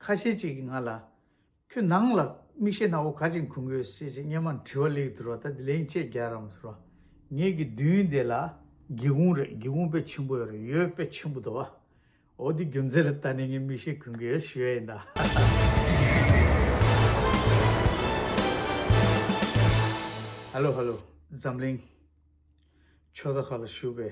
ཁ་ཤས་ཅིག་གིས་ང་ལ། ཁྱོད་ནང་ལ་མིག་ཤེལ་སྣ་བོ་ག་ཅིག་འཁུར་དགོས་ཞེས་ཅེས་སྙན་མར་དྲི་བ་ལེགས་བསྡུར་བ་ལྟར་དེ་ལན་ཅེས་རྒྱག་རམ་ཟེར་བ། ངེད་ཀྱི་མདུན་དེ་ལ། སྒེའུ་ཁུང་རེད་སྒེའུ་ཁུང་དཔེ་ཆེན་པོ་ཡོད་རེད་ཡོད་དཔེ་ཆེན་པོ་དོ། འོ་དེ་རྒྱུ་མཚན་ལ་ལྟ་ནས་ངས་མིག་ཤེལ་འཁུར་གི་ཡོད་ཞུས་ཡ་ཡིན་ད། ཧལ་ལོ་ཧལ་ལོ་འཛམ་གླིང། ཕྱོགས་མཐའ་ཁག་ལ་བཞུགས་པའི།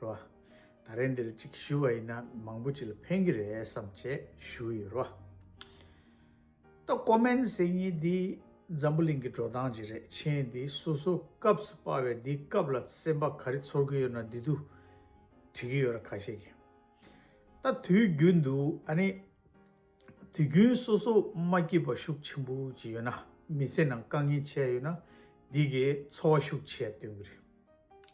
རོ། ད་རེས་འདིར་གཅིག་ཞུ་བ་ཡིན་ན་མང་པོ་ཅི་ལ་ཕན་གྱི་རེད་བསམ་བྱས་ཞུ་ཡི་རོ། ད་ཀོ་མན་ཟེར་གཉིས་འདི་འཛམ་བུ་གླིང་གི་འགྲོ་སྟངས་ཅིག་རེད་མཆན་འདི་སོ་སོ་སྐབས་སུ་དཔར་བས་འདི་སྐབས་ལ་སེམས་པ་ག་རེ་ཚོར་གྱི་ཡོད་ན་འདི་དུ་བྲིས་ཀྱི་ཡོད་ར་ཁ་ཤས་ཀྱིས། ད་དུས་རྒྱུན་དུ་ཨ་ནི། དུས་རྒྱུན་སོ་སོ་མ་སྐྱིད་པ་ཤུགས་ཆེན་པོ་ཅིག་ཡོད་ན་མི་ཚེ་ནང་དཀའ་ངལ་ཆེ་ཡོད་ན་འདི་གས་འཚོ་བ་ཤུགས་ཆེ་སྟོན་གྱི་རེད།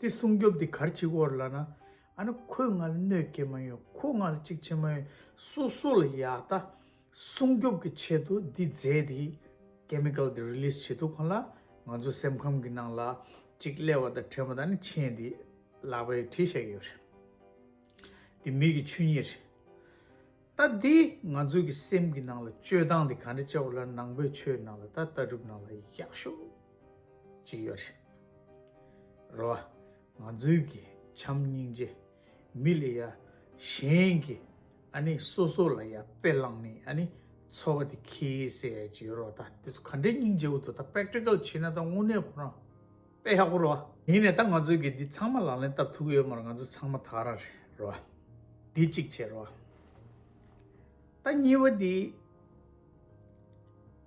དེ་སྲུང་སྐྱོབ་དེ་གར་བྱེད་དགོས་ལ་ན། ཨ་ན་ཁོས་ང་ལ་གནོད་སྐྱེལ་མ་ཡོང་ཁོ་ང་ལ་གཅིག་བྱེད་མ་ཡོང་སོ་སོ་ལ་ཡག་ལྟ། སྲུང་སྐྱོབ་ཀྱི་ཆེད་དུ་འདི་རྫས་དེ། Chemical། དེ Release བྱེད་ཐུབ་གོང་ལ་ང་ཚོ་སེམས་ཁམས་ཀྱི་ནང་ལ་གཅིག་ཀླད་བ་དང་ཕྲེང་བ་དང་ནི་མཆན་དེ་ལག་པས་བྲིས་བཞག་ཡོད་རེད། དེ་མིག་གི་ཆོས་ཉིད་རེད། ལྟ་དེ་ང་ཚོ་གི་སེམས་ཀྱི་ནང་ལ་སྤྱོད་སྟངས་དེ་ག་འདྲ་བྱ་བ་ལ་ནང་པའི་ཆོས་ནང་ལ་ལྟ་ལྟ་གྲུབ་ནང་ལ་ཡག་ཤོས། ཅིག་ཡོད་རེད། རེད་བ། ང་ཚོའི་གི་བྱམས་སྙིང་རྗེ། མི་ལ་ཡ། གཞན་གི། ཨ་ནི་སོ་སོ་ལ་ཡ་དཔེ་བླངས་ནི་ཨ་ནི། འཚོ་བ་དེ་ཁེ་སེ་ཅིག་ཡོད་རོ་ད་དེ་ཚོ་ག་འདྲའི་སྙིང་རྗེ་བོ་དོ་ད practical བྱེད་ན་ད་དངོས་གནས་ཁོ་རང། དཔེ་ཡག་པོ་རེད་བ། ཡིན་ནས་ད་ང་ཚོའི་གི་འདི་ཚང་མ་ལག་ལེན་བསྟར་ཐུབ་ཀི་ཡོད་མ་རེད་ང་ཚོ་ཚང་མ་དག་ར་རེད། རེད་བ། དེ་གཅིག་བྱེད་རེད་བ། ད་གཉིས་པ་འདི།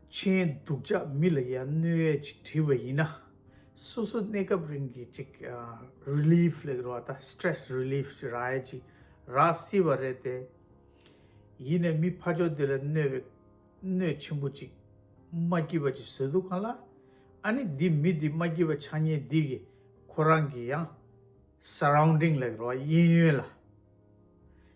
ཆེན་སྡུག་ཅག་མི་ལ་ཡ་གནོད་ཡས་ཅིག་བྲིས་པ་ཡིན་ན། སོ་སོ་གནས་སྐབས་རིང་གི་ཅིག Relief ལེགས་རོགས་ད Stress Relief ཅིག་རག་ཡས་ཅིག་རག་སྲིད་པ་རེད་དེ། ཡིན་ནས་མི་ཕ་ཅོག་འདི་ལ་གནོད་པའི་གནོད་ཆེན་པོ་ཅིག་མ་སྐྱིད་པ་ཅིག་བཟོས་འདུག་གང་ལ། ཨ་ནི་འདི་མི་འདི་མ་སྐྱིད་པ་ཆགས་ཉེན་འདི་གི་ཁོ་རང་གི་ཡང Surrounding ལེགས་རོགས་གཡས་གཡོན་ལ།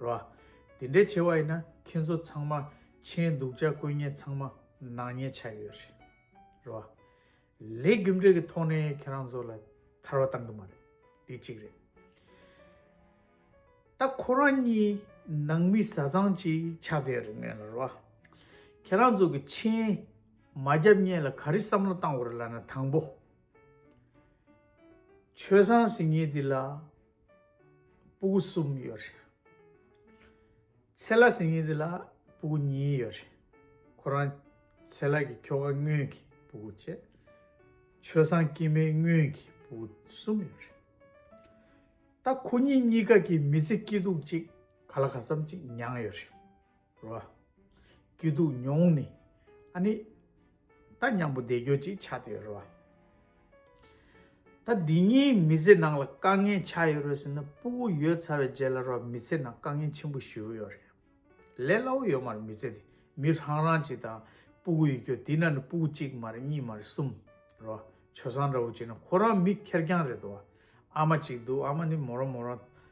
ར། དེ་འདྲའི་ཆེ་བ་ཡིན་ན་ཁྱེད་ཚོ་ཚང་མ་མཆན་སྡུག་ཅག་བཀོད་ཉེན་ཚང་མ་ནག་ཉེས་ཆགས་ཡོད་རེད། ར། ལས་རྒྱུ་འབྲས་ཀྱི་ཐོག་ནས་ཁྱེད་རང་ཚོ་ལ་ཐར་བ་བཏང་གི་མ་རེད། དེ་གཅིག་རེད། ད་ཁོ་རང་གཉིས་ནང་མི་བཟའ་ཚང་ཅིག་ཆགས་བསྡད་རེད་ངེས་ལ་ར། ཁྱེད་རང་ཚོ་གི་མཆན་མ་རྒྱབ་ཉེས་ལ་ག་རེ་བསམ་བློ་བཏང་བ་རེད་ལ་ན་དང་པོ། ཆོས་བཟང་ཟེར་ཉེས་འདི་ལ། སྤུ་གུ་གསུམ་ཡོད་རེད། ཚེ་ལ་ཟེར་མཁན་དེ་ལ་སྤུ་གུ་གཉིས་ཡོད་རེད། ཁོ་རང་ཚེ་ལ་གི་ཁྱོ་ག་དངོས་ཀྱི་སྤུ་གུ་བཅས་ཆོས་བཟང་སྐྱིད་མའི་དངོས་ཀྱི་སྤུ་གུ་གསུམ་ཡོད་རེད། ད་ཁོ་གཉིས་གཉིས་ཀ་གི་མི་ཚེ་སྐྱིད་སྡུག་ཅིག་ག་ལ་ག་ཙམ་ཅིག་མྱངས་ཡོད་རེད། རོ། སྐྱིད་སྡུག་མྱོང་ནི་ཨ་ནི། ད་སྙམ་པོ་བདེ་འགྱོད་ཅིག་ཆགས་ཏེ་རོ། ད་འདི་གཉིས་མི་ཚེ་ནང་ལ་དཀའ་ངལ་ཆགས་ཡོད་རེད་ཟེར་ན་སྤུ་བོ་ཡོད་ཚར་བའི་རྗེས་ལ་རོ་མི་ཚེ་ནང་དཀའ་ངལ་ཆེན་པོ་ཞུས་བོ་ཡོད་རེད། ལས་སླ་བོ་ཡོད་མ་རེད་མི་ཚེ་དེ་མི་རང་རང་གཅིག་དང་སྤུ་བོ་ཡོད་རྒྱུ་དེ་ན་ནི་སྤུ་བོ་གཅིག་མ་རེད་གཉིས་མ་རེད་གསུམ་རོ། བྱོལ་སང་འདྲ་བོ་བྱས་ན་ཁོ་རང་མི་ཁེར་རྐྱང་རེད་དོ། ཨ་མ་གཅིག་འདུག་ཨ་མ་ནི་མོ་རང་མོ་རང།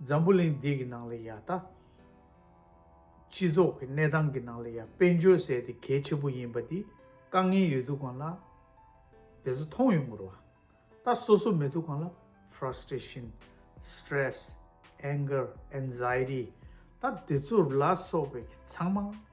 འཛམ་བུ་གླིང་འདི་གི་ནང་ལ་ཡང་ད། སྤྱི་ཚོགས་ཀྱི་གནས་སྟངས་ཀྱི་ནང་ལ་ཡང་དཔལ་འབྱོར་ཟེར་དེ་གལ་ཆེ་པོ་ཡིན་པ་འདི་དཀའ་ངལ་ཡོད་དུ་གང་ལ། དེ་ཚོ་མཐོང་ཡོང་དགོས་ར། ད་སོ་སོ་མེད་དུ་གང་ལ Frustration། Stress། Anger། Anxiety། ད་དེ་ཚོར་ལ་སོགས་པའི་ཚང་མ།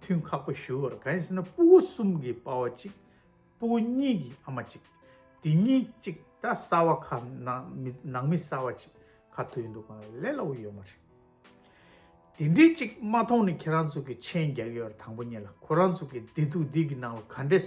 ཐུན་ཁག་པོ་ཞུ་བར་གང་ཡིན་ཟེར་ན་སྤུ་བོ་གསུམ་གྱི་དཔའ་བོ་གཅིག་སྤུ་བོ་གཉིས་ཀྱི་ཨ་མ་གཅིག་དེ་གཉིས་གཅིག་ད་གསའ་བ་ཁ་ནང་མི་གསའ་བ་གཅིག་ཁ་མཐུ་ཡོད་འདུག་གང་ལ་ལས་སླ་བོ་ཡོད་མ་རེད། དེ་འདྲའི་གཅིག་མ་མཐོང་ནས་ཁྱེད་རང་ཚོ་གི་མཆན་རྒྱག་ཡོད་ར་དང་པོ་གཉིས་ལ་ཁོ་རང་ཚོ་གི་བདེ་སྡུག་འདི་གི་ནང་ལ་ག་འདྲས།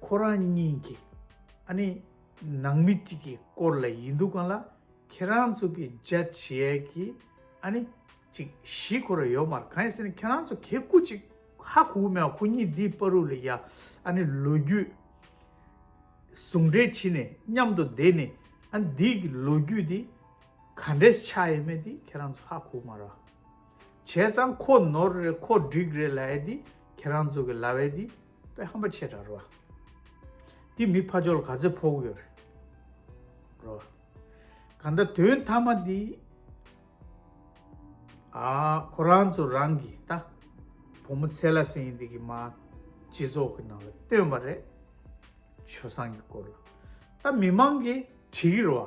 ཁོ་རང་གཉིས་ཀྱི་ཨ་ནི་ནང་མི་གཅིག་གི་སྐོར་ལ་ཡིན་འདུག་གང་ལ་ཁྱེད་རང་ཚོ་གི་རྒྱ་ཆེ་གི་ཨ་ནི་གཅིག་གཞིས་ཁོ་ར་ཡོད་མར་གང་ཡིན་ཟེར་ན་ཁྱེད་རང་ཚོ་གས་སྐུ་གཅིག་ཧ་གོ་གི་མེད་བ་ཁོ་གཉིས་འདིའི་པ་རུ་ལ་ཡ་ཨ་ནི་ལོ་རྒྱུས་ཟུང་འབྲེལ་བྱེད་ནས་མཉམ་དུ་བསྡད་ནས་ཨ་ནི་འདིའི་གི་ལོ་རྒྱུས་འདི་ག་འདྲས་ཆགས་ཡས་མེད་འདི་ཁྱེད་རང་ཚོ་ཧ་གོ་གི་མ་ར་བྱས་ཙང་ཁོ་ནོར་རེད་ཁོ་འགྲིག་རེད་ལ་ཡས་འདི་ཁྱེད་རང་ཚོ་གི་ལ་བས་འདི། པའི་ཧམ་པ་ཆེ་དྲག་རོ། འདི་མི་ཕ་ཅོལ་ག་ཚེ་ཕོག་ཡོད་རོ། གང་ལྟ་དོན་མཐའ་མ་འདི། ཨ་ཁོ་རང་ཚོ་རང་གི་ལྟ། བུ་མོ་ཚེ་ལ་སེང་འདི་གི་མ། སྤྱི་ཚོགས་ཀྱི་ནང་ལ་བཏོན་པ་རེད། ཆོལ་སང་གི་སྐོར་ལ། ད་མི་མང་གི་བྲིས་རོ།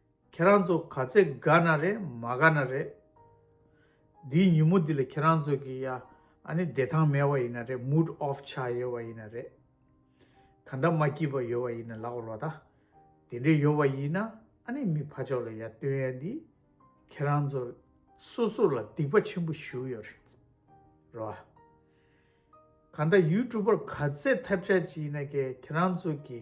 ཁྱེད་རང་ཚོ་ག་ཚད་དགའ་ན་རེད་མ་དགའ་ན་རེད། འདིའི་ཉིན་མོ་འདི་ལ་ཁྱེད་རང་ཚོ་གི་ཡ་ཨ་ནི་བདེ་ཐང་མེད་བ་ཡིན་ན་རེད་མུད་ཨོབ་ཆགས་ཡོད་བ་ཡིན་ན་རེད། ག་འདྲ་མ་སྐྱིད་པ་ཡོད་བ་ཡིན་ན་ལགས་རོགས་ད། དེ་འདྲས་ཡོད་བ་ཡིན་ན་ཨ་ནི་མི་ཕ་ཕྱོགས་ལ་ཡ་སྟོན་ཡ་འདི། ཁྱེད་རང་ཚོ་སོ་སོ་ལ་སྡིག་པ་ཆེན་པོ་ཞུ་ཡོད་རེད་རོ། ག་འདྲ་ཡུལ་གྲུ་པར་ག་ཚད་ཐབས་ཆག་ཅིག་ཡིན་ན་ཁྱེད་རང་ཚོ་གི།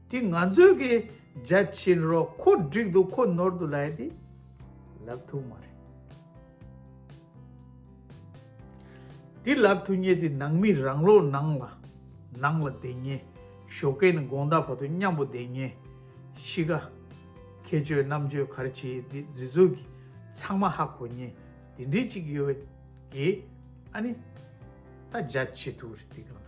དེ་ང་ཚོས་གི་རྒྱ་ཆེན་རོ་ཁོ་འགྲིག་འདུག་ཁོ་ནོར་འདུག་ལ་ཡ་དེ་ལབ་ཐུག་མ་རེད། དེ་ལབ་ཐུག་ཉེ་དེ་ནང་མི་རང་ལོག་ནང་ལ་ནང་ལ་བསྡད་ཉེ་ཞོ་ཀེ་ནི་དགོངས་དག་བར་དུ་མཉམ་པོ་བསྡད་ཉེ་ཤི་ག་ཁྱེད་ཆོས་རྣམ་དཔྱོད་གར་བྱེད་དེ་རྫི་ཚུག་གི་ཚང་མ་ཧ་གོ་ཉེ་དེ་འདྲི་གཅིག་ཡོད་བའི་གི་ཨ་ནི་ད་རྒྱ་ཆེ་ཐུག་རེད་དེ་གང་ལ།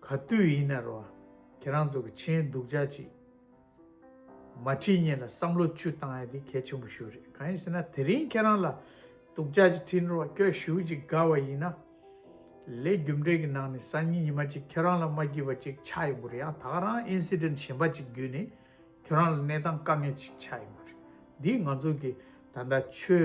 ག་དུས་ཡིན་ན་རུང་ཁྱེད་རང་ཚོ་གི་མཆན་སྡུག་ཅག་ཅིག་མ་བྲིས་ཉེས་ལ་བསམ་བློ་བཅུ་བཏང་ཡ་དེ་གལ་ཆེན་པོ་ཞུ་རེད་གང་ཡིན་ཟེར་ན་དེ་རིང་ཁྱེད་རང་ལ་སྡུག་ཅག་ཅིག་བྲིས་འགྲོ་བ་ཁྱོད་ཞུ་ཅིག་དགའ་བ་ཡིན་ན་ལས་རྒྱུ་འབྲས་ཀྱི་ནང་ནས་སང་ཉིན་ཉི་མ་ཅིག་ཁྱེད་རང་ལ་མ་བགྱིས་པ་ཅིག་ཆགས་ཡོང་གི་རེད་ཡང་དག་རང incident གཞན་པ་ཅིག་བརྒྱུད་ནས་ཁྱོད་རང་ལ་གནས་སྟངས་དཀའ་ངལ་ཅིག་ཆགས་ཡོང་གི་རེད་འདིས་ང་ཚོ་གི་ད་ལྟ་ཆོས་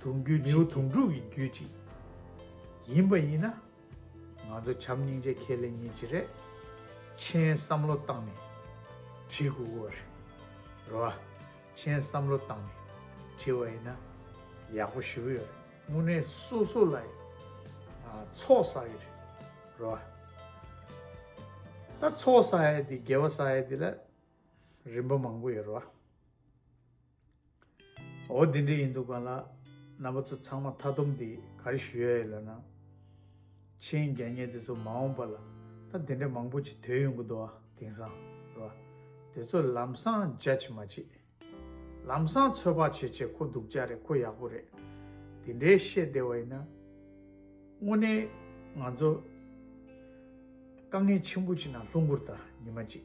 དུང་རྒྱུད་ནེའུ་དུང་དྲུག་གི་རྒྱུད་ཅིག་ཡིན་པ་ཡིན་ན། ང་ཚོ་བྱམས་སྙིང་རྗེ་ཁས་ལེན་ཉིན་བྱེད་རེད། མཆན་བསམ་བློ་བཏང་ནས་བྲིས་གུ་གུ་བ་རེད། རེད་བ། མཆན་བསམ་བློ་བཏང་ནས་བྲིས་བ་ཡིན་ན། ཡག་པོ་ཞུ་གི་ཡོད་རེད། དངོས་གནས་སོ་སོ་ལ་ཚོགས་བསགས་ཡོད་རེད། རེད་བ། ད་ཚོགས་བསགས་ཡས་དེ་དགེ་བ་བསགས་ཡས་དེ་ལ་རིམ་པ་མང་པོ་ཡོད་རེད་བ། འོ་འདི་འདྲ་ཡིན་འདུག་ག་ལ། རྣམ་པ་ཚོ་ཚང་མ་མཐའ་སྡོམ་འདི་གར་ཞུ་ཡ་ཡོད་ལབ་ན། མཆན་རྒྱ་ཉེ་དེ་ཚོ་མ་འོངས་པ་ལ་ད་འདི་འདྲ་མང་པོ་ཅིག་དོད་ཡོང་གི་འདུག་ཨ་དེང་སང་རེད་བ། དེ་ཚོ་ལམ་སང judge མ་བྱེད། ལམ་སང་ཚོད་དཔག་བྱེད་བྱེད་ཁོ་སྡུག་ཅག་རེད་ཁོ་ཡག་པོ་རེད། འདི་འདྲའི་བཤད་བདེ་བ་ཡིན་ན། དངོས་གནས་ང་ཚོ་དཀའ་ངལ་ཆེན་པོ་ཅིག་ནང་ལྷུང་གུར་དང་ཉི་མ་ཅིག